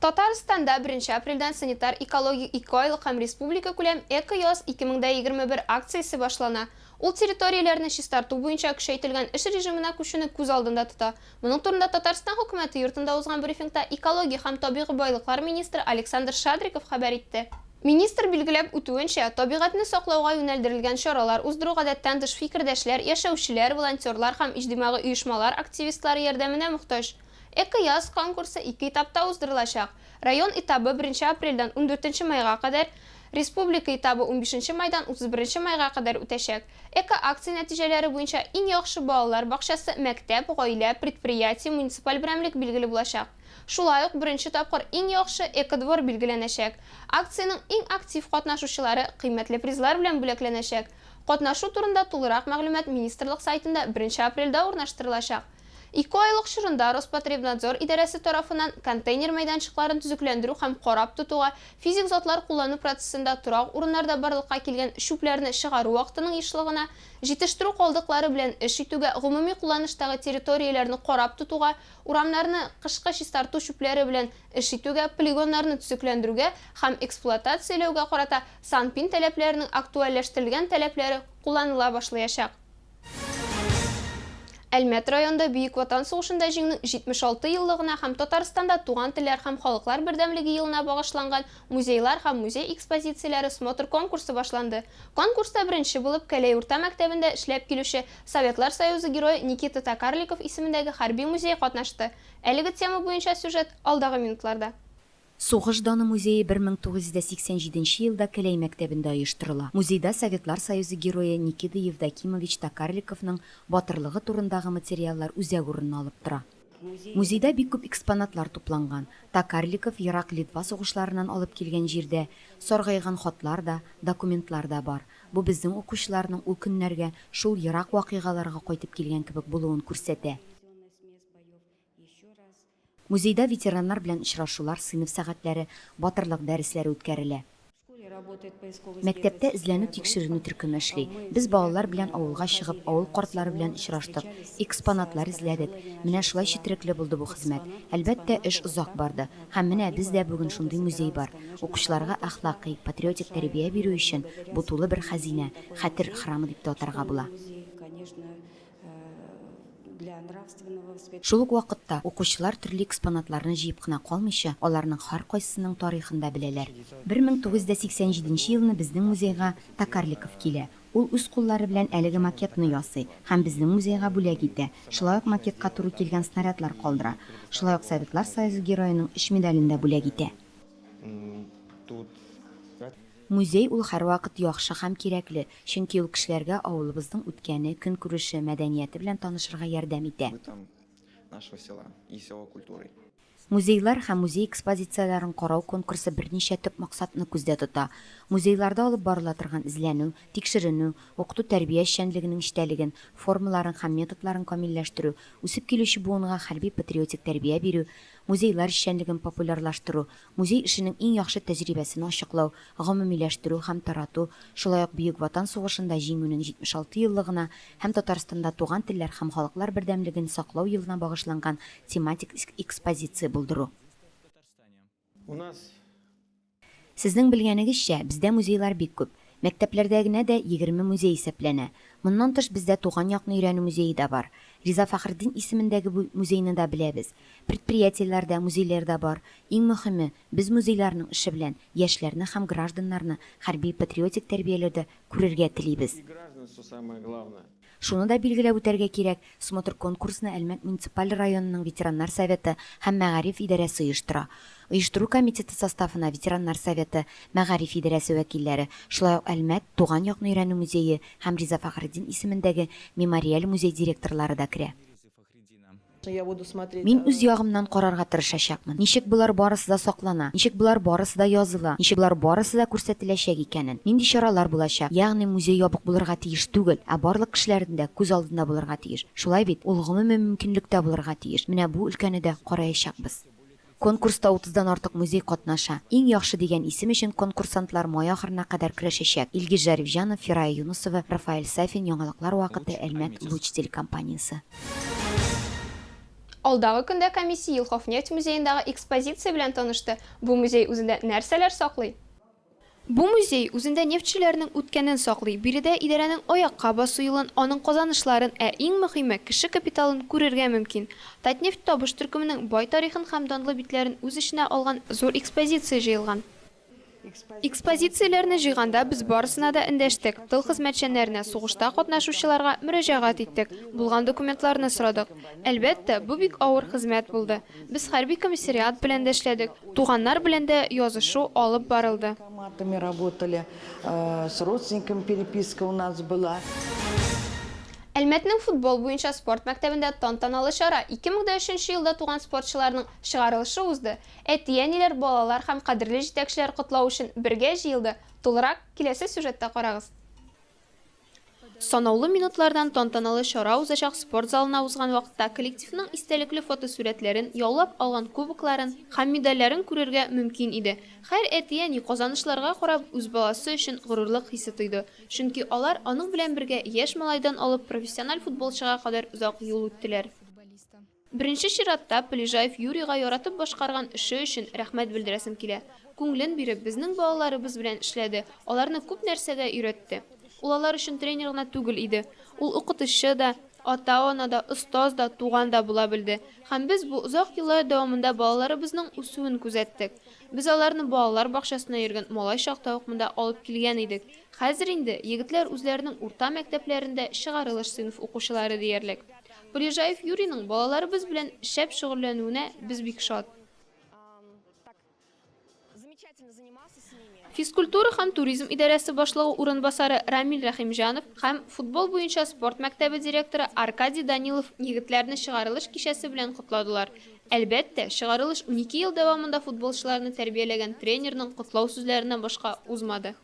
Татарстанда беренче апрельдән санитар-экологик ике айлык һәм республикакүләм Эко-яз 2021 акциясе башлана. Ул территорияләрне чистарту буенча көчәйтелгән эш режимына күчүне күз алдында тота. Моның турында Татарстан Хөкүмәте Йортында узган брифингта экология һәм табигый байлыклар министры Александр Шадриков хәбәр итте. Министр билгеләп үтүенчә, табигатьне саклауга юнәлдерелгән чаралар уздыру гадәттән тыш фикердәшләр, яшәүчеләр, волонтерлар һәм иҗтимагый оешмалар активистлары ярдәменә мохтаҗ. Эко яз конкурсы ике этапта уздырылачак. Район этабы беренче апрельдән ундүртенче майга кадәр, республика этабы унбишенче майдан утыз беренче майга кадәр үтәчәк. Эко акция нәтиҗәләре буенча иң яхшы балалар бакчасы, мәктәп, гаилә, предприятие, муниципаль берәмлек билгеле булачак. Шулай ук беренче тапкыр иң яхшы экодвор билгеләнәчәк. Акциянең иң актив катнашучылары кыйммәтле призлар белән бүләкләнәчәк. Катнашу турында тулырак мәгълүмат министрлык сайтында беренче апрельдә урнаштырылачак. Ике айлык чорында Роспотребнадзор идарәсе тарафыннан контейнер мәйданчыкларын төзекләндерү һәм карап тотуга, физик затлар куллану процессында торак урыннарда барлыкка килгән чүпләрне чыгару вакытының ешлыгына, җитештерү калдыклары белән эш итүгә, гомуми кулланыштагы территорияләрне карап тотуга, урамнарны кышкы чистарту чүпләре белән эш итүгә, полигоннарны төзекләндерүгә һәм эксплуатацияләүгә карата санпин таләпләренең актуальләштерелгән таләпләре кулланыла башлыячак. Әлмәт районында Бөек Ватан сугышында җиңнең 76 еллыгына һәм Татарстанда туган телләр һәм халыклар бердәмлеге елына багышланган музейлар һәм музей экспозицияләре смотр конкурсы башланды. Конкурста беренче булып Кәләй урта мәктәбендә эшләп килүче Советлар Союзы Герое Никита Токарликов исемендәге хәрби музей катнашты. Әлеге тема буенча сюжет, алдагы минутларда. Сугыш даны музее 1987 нче елда Келәй мәктәбендә оештырыла. Музейда Советлар Союзы Герое Никида Евдокимович Токарликовның батырлыгы турындагы материаллар үзәк урынны алып тора. Музейда бик күп экспонатлар тупланган. Токарликов Ерак Литва сугышларыннан алып килгән җирдә саргайган хатлар да, документлар да бар. Бу безнең укучыларның ул көннәргә, шул ерак вакыйгаларга кайтып килгән кебек булуын күрсәтә. Музейда ветераннар белән очрашулар, сыйныф сәгатьләре, батырлык дәресләре үткәрелә. Мәктәптә эзләнү-тикшеренү төркеме эшли. Без балалар белән авылга чыгып, авыл картлары белән очраштык, экспонатлар эзләдек. Менә шулай четерекле булды бу хезмәт. Әлбәттә, эш озак барды. Һәм менә бездә бүген шундый музей бар. Укучыларга әхлакый, патриотик тәрбия бирү өчен бу тулы бер хәзинә, хәтер храмы дип тә атарга була. Шул ук вакытта, укучылар төрле экспонатларны җыеп кына калмыйча, аларның һәркайсының тарихын да беләләр. 1987 елны безнең музейга Токарликов килә. Ул үз куллары белән әлеге макетны ясый һәм безнең музейга бүләк итә, шулай ук макетка туры килгән снарядлар калдыра. Шулай ук Советлар Союзы Героеның өч медален дә бүләк итә. Музей ул һәрвакыт яхшы һәм кирәкле, чөнки ул кешеләргә авылыбызның үткәне, көнкүреше, мәдәнияте белән танышырга ярдәм итә. Бытом нашего села и села культурой. Музейлар һәм музей экспозицияләрен карау конкурсы берничә төп максатны күздә тота, музейларда алып барыла торган эзләнү, тикшеренү, укыту-тәрбия эшчәнлегенең эчтәлеген, формаларын һәм методларын камилләштерү, үсеп килүче буынга хәрби-патриотик тәрбия бирү, музейлар эшчәнлеген популярлаштыру, Музей эшенең иң яхшы тәҗрибәсен ачыклау, гомумиләштерү һәм тарату, шулай ук Бөек Ватан сугышында Җиңүнең 76 еллыгына һәм Татарстанда Туган телләр һәм халыклар бердәмлеген саклау елына багышланган тематик экспозиция булдыру. Сезнең белгәнегезчә, бездә музейлар бик күп. Мәктәпләрдә генә дә егерме музей исәпләнә. Моннан тыш бездә Туган якны өйрәнү музее да бар. Риза Фәхретдин исемендәге бу музейны да беләбез. Предприятиеләр дә, музейлар да бар. Иң мөхиме, без музейларның эше белән яшьләрне һәм гражданнарны хәрби-патриотик тәрбияләүдә күрергә телибез. Шуны да билгеләп үтәргә кирәк, смотр-конкурсны Әлмәт муниципаль районының ветераннар советы һәм мәгариф идарәсе оештыра. Оештыру комитеты составына ветераннар советы, мәгариф идарәсе вәкилләре, шулай ук Әлмәт, Туган якны өйрәнү музее һәм Риза Фәхретдин исемендәге Мемориаль музей директорлары да керә. Мин үз ягымнан карарга тырышачакмын, ничек болар барысы да саклана, ничек болар барысы да языла, ничек болар барысы да күрсәтеләчәк икәнен, нинди чаралар булачак, ягъни музей ябык булырга тиеш түгел, ә барлык кешеләрнең дә күз алдында булырга тиеш, шулай бит, ул гомуми мөмкинлектә булырга тиеш, менә бу өлкәне дә караячакбыз. Конкурста утыздан артык музей катнаша. Иң яхшы дигән исем өчен конкурсантлар май ахырына кадәр көрәшәчәк. Илгиз Жарифҗанов, Фирая Юнысова, Рафаэль Сафин, Яңалыклар вакыты, Әлмәт, Луч телекомпаниясе. Алдагы көндә комиссия Елховнефть музеендагы экспозиция белән танышты. Бу музей үзендә нәрсәләр саклый? Бу музей үзендә нефтьчеләрнең үткәнен саклый, биредә идарәнең аякка басу юлын, аның казанышларын, ә иң мөхиме, кеше капиталын күрергә мөмкин. Татнефть табыш төркеменең бай тарихын һәм данлы битләрен үз эченә алган зур экспозиция җыелган. Экспозицияләрне җыйганда без барысына да эндәштек, тыл хезмәтчәннәренә, сугышта катнашучыларга мөрәҗәгать иттек, булган документларны сорадык. Әлбәттә, бу бик авыр хезмәт булды. Без хәрби комиссариат белән дә эшләдек, туганнар белән дә язышу алып барылды. Әлмәтнең футбол буенча спорт мәктәбендә тантаналы чара, 2003 нче елда туган спортчыларның чыгарылышы узды. Әти-әниләр, балалар һәм кадерле җитәкчеләр котлау өчен бергә җыелды, тулырак, киләсе сюжетта карагыз. Санаулы минутлардан тантаналы чара узачак спорт залына узган вакытта коллективның истәлекле фотосурәтләрен, яулап алган кубокларын һәм медальләрен күрергә мөмкин иде. Хәр әти-әни казанышларга карап үз баласы өчен горурлык хисе тойды, чөнки алар аның белән бергә яшь малайдан алып профессиональ футболчыга кадәр озак юл үттеләр. Беренче чиратта, Полежаев Юрийга яратып башкарган эше өчен рәхмәт белдерәсем килә. Күңелен биреп, безнең балаларыбыз белән эшләде, аларны күп нәрсәгә өйрәтте. Ул алар өчен тренер гына түгел иде. Ул укытучы да, ата-ана да, остаз да, туган да була белде. Һәм без бу озак еллар дәвамында балаларыбызның үсүен күзәттек. Без аларны балалар бакчасына йөргән малай чакта ук монда алып килгән идек. Хәзер инде егетләр үзләренең урта мәктәпләрендә чыгарылыш сыйныф укучылары диярлек. Полежаев Юрийның балаларыбыз белән шәп шөгыльләнүенә без бик шат. Физкультура һәм туризм идарәсе башлыгы урынбасары Рамил Рәхимҗанов һәм футбол буенча спорт мәктәбе директоры Аркадий Данилов егетләрне чыгарылыш кичәсе белән котладылар. Әлбәттә, чыгарылыш унике ел дәвамында футболчыларны тәрбияләгән тренерның котлау сүзләреннән башка узмады.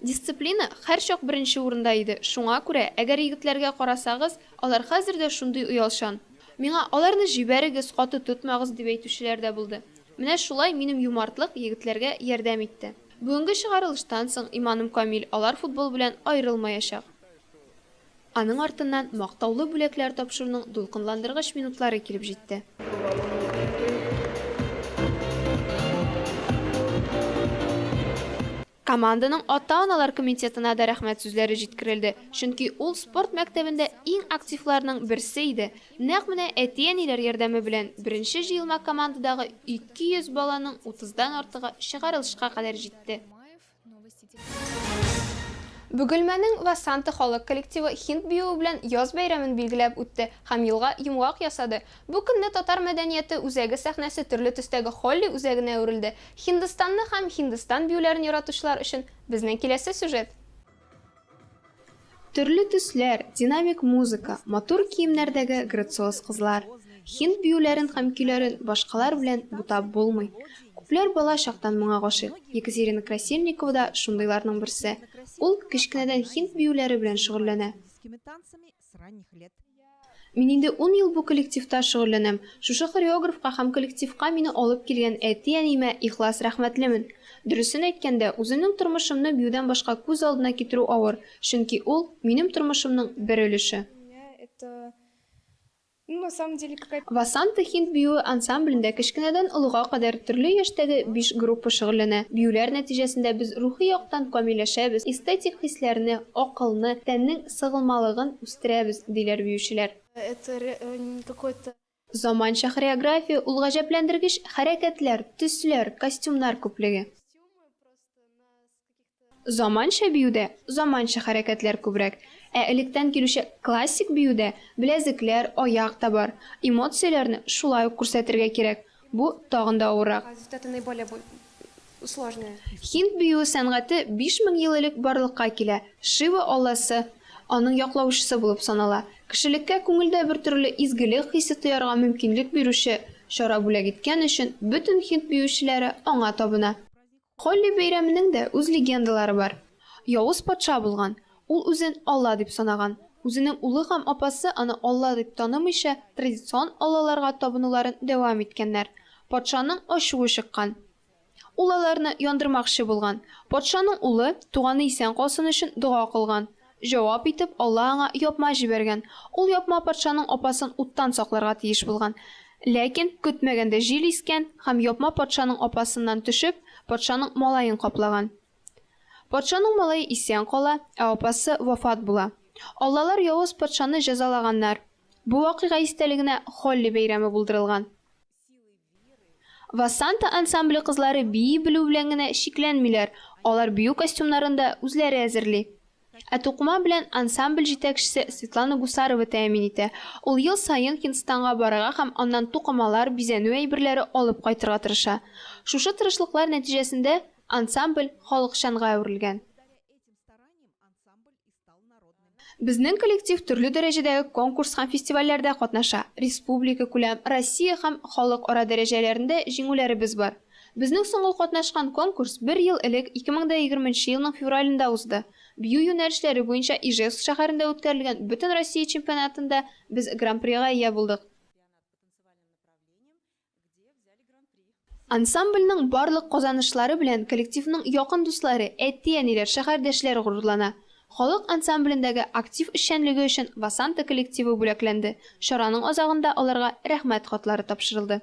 Дисциплина һәрчак беренче урында иде, шуңа күрә, әгәр егетләргә карасагыз, алар хәзер дә шундый оялчан. Миңа, Аларны җибәрегез, каты тотмагыз, дип әйтүчеләр дә булды. Менә шулай минем юмартлык егетләргә ярдәм итте. Бүгенге чыгарылыштан соң, иманым камил, алар футбол белән аерылмаячак. Аның артыннан мактаулы бүләкләр тапшыруның дулкынландыргыч минутлары килеп җитте. Команданың ата-аналар комитетына да рәхмәт сүзләре җиткерелде, чөнки ул спорт мәктәбендә иң активларның берсе иде. Нәкъ менә әти-әниләр ярдәме белән беренче җыелма командадагы 200 баланың утыздан артыгы чыгарылышка кадәр җитте. Бөгелмәнең Васанты халык коллективы Хинд биюе белән яз бәйрәмен билгеләп үтте һәм елга йомгак ясады. Бу көнне татар мәдәнияте үзәге сәхнәсе төрле төстәге Холли үзәгенә әверелде. Һиндстанны һәм Һиндстан биюләрен яратучылар өчен безнең киләсе сюжет. Төрле төсләр, динамик музыка, матур киемнәрдәге грациоз кызлар. Һинд биюләрен һәм көйләрен башкалар белән бутап булмый. Күпләр бала чактан моңа гашыйк. Екатерина Красильникова да шундыйларның берсе. Ул кечкенәдән һинд биюләре белән шөгыльләнә. с ранних лет. Мин инде ун ел бу коллективта шөгыльләнәм. Шушы хореографка һәм коллективка мине алып килгән әти-әниемә ихлас рәхмәтлемен. Дөресен әйткәндә, үземнең тормышымны биюдән башка күз алдына китерү авыр, чөнки ул, минем тормышымның бер өлеше. Ну на самом деле какая Васанта һинд биюе ансамблендә кечкенәдән олыга кадәр төрле яшьтәге биш группа шөгыльләнә. Биюләр нәтиҗәсендә без рухи яктан камилләшәбез, эстетик хисләрне, акылны, тәннең сыгылмалыгын үстерәбез, диләр биючеләр. Это не какой то. Заманча хореография ул гаҗәпләндергеч хәрәкәтләр, төсләр, костюмнар күплеге. Заманча биюдә заманча хәрәкәтләр күбрәк, ә электән килүче классик биюдә беләзекләр, аяк та бар. Эмоцияләрне шулай ук күрсәтергә кирәк, бу тагын да авыррак. Һинд биюе сәнгате биш мең ел элек барлыкка килә, Шива алласы аның яклаучысы булып санала. Кешелеккә күңелдә бертөрле изгелек хисе тоярга мөмкинлек бирүче чара бүләк иткән өчен бөтен һинд биючеләре аңа табына. Холли бәйрәменең дә үз легендалары бар. Явыз патша булган, ул үзен алла дип санаган. Үзенең улы һәм апасы аны алла дип танымыйча, традицион аллаларга табынуларын дәвам иткәннәр. Патшаның ачуы чыккан. Ул аларны яндырмакчы булган. Патшаның улы, туганы исән калсын өчен дога кылган. Җавап итеп, Алла аңа япма җибәргән. Ул япма патшаның апасын уттан сакларга тиеш булган. Ләкин, көтмәгәндә җил искән һәм япма патшаның апасыннан төшеп, патшаның малаен каплаган. Патшаның малае исән кала, ә апасы вафат була. Аллалар явыз патшаны җәзалаганнар. Бу вакыйга истәлегенә Холли бәйрәме булдырылган. Васанта ансамбле кызлары бии белү белән генә чикләнмиләр, алар бию костюмнарын да үзләре әзерли. Ә тукыма белән ансамбль җитәкчесе Светлана Гусарова тәэмин итә. Ул ел саен Һиндстанга барырга һәм аннан тукымалар, бизәнү әйберләре алып кайтырга тырыша. Шушы тырышлыклар нәтиҗәсендә ансамбль халыкчанга әверелгән. Безнең коллектив төрле дәрәҗәдәге конкурс һәм фестивальләрдә катнаша, республикакүләм, Россия һәм халыкара дәрәҗәләрендә җиңүләребез бар. Безнең соңгы катнашкан конкурс бер ел элек, 2020 нче елның февралендә узды. Бию юнәлешләре буенча Ижевск шәһәрендә үткәрелгән Бөтенроссия чемпионатында без гран-прига ия булдык. Ансамбльнең барлык казанышлары белән коллективның якын дуслары, әти-әниләр, шәһәрдәшләр горурлана. Халык ансамблендәге актив эшчәнлеге өчен Васанта коллективы бүләкләнде, чараның азагында аларга Рәхмәт хатлары тапшырылды.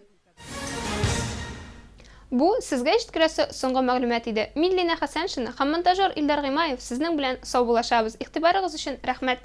Бу, сезгә җиткерәсе соңгы мәгълүмат иде. Мин Линә Хәсәншина һәм монтажер Илдар Гыймаев сезнең белән сау булашабыз. Игътибарыгыз өчен рәхмәт!